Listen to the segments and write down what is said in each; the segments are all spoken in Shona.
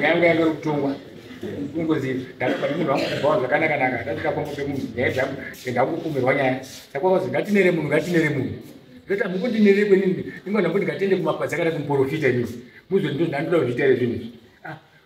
yanga yave kutongwa kungozi ndakabva nemunhu wangu kubhawa zvakanaka naka ndatika pamwe pemunhu nyaya dzangu ndakukumirwa nyaya saka kwazi ngatinere munhu ngatinere munhu ndoita mukundinere kwenini ingona kuti ngatende kumapazi akada kumuporofita inini muzvendindoda kuzviita ere zvinhu izvi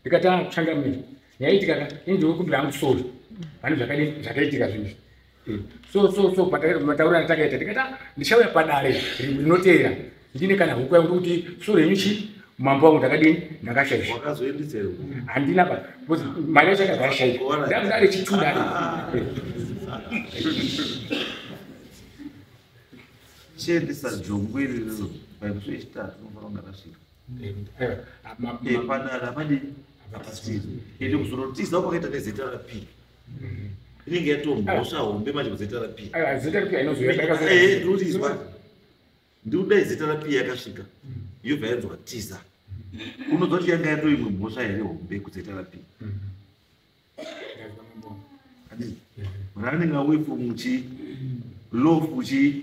ndikatanga kuchangamira yaitika ka ini ndikukumbira hangu sori pane zvakaitika zvinhu eh, so so so matauro anatakaita ndikata ndichauya padare rinoteera ndine kana huku yangu kuti sori yenyu chii mambo wangu ndakadini ndakashaisha handina pa bcause mari yacho yakazashaisha ndakudare chituda chiendesa jongwe riri paimsvechitatu unofanira kunge rasvika padara padi apasiri ende kuzorotiza kwakaita nezrp mm-hmm. inenge yatomhosva hombe manje kuzrp ndikudai zrp yakasvika mm-hmm. yobva yanzwa tiza mm-hmm. unoziva kuti yanga yato imwe mhosva here hombe kuzrp running away from chi lof chi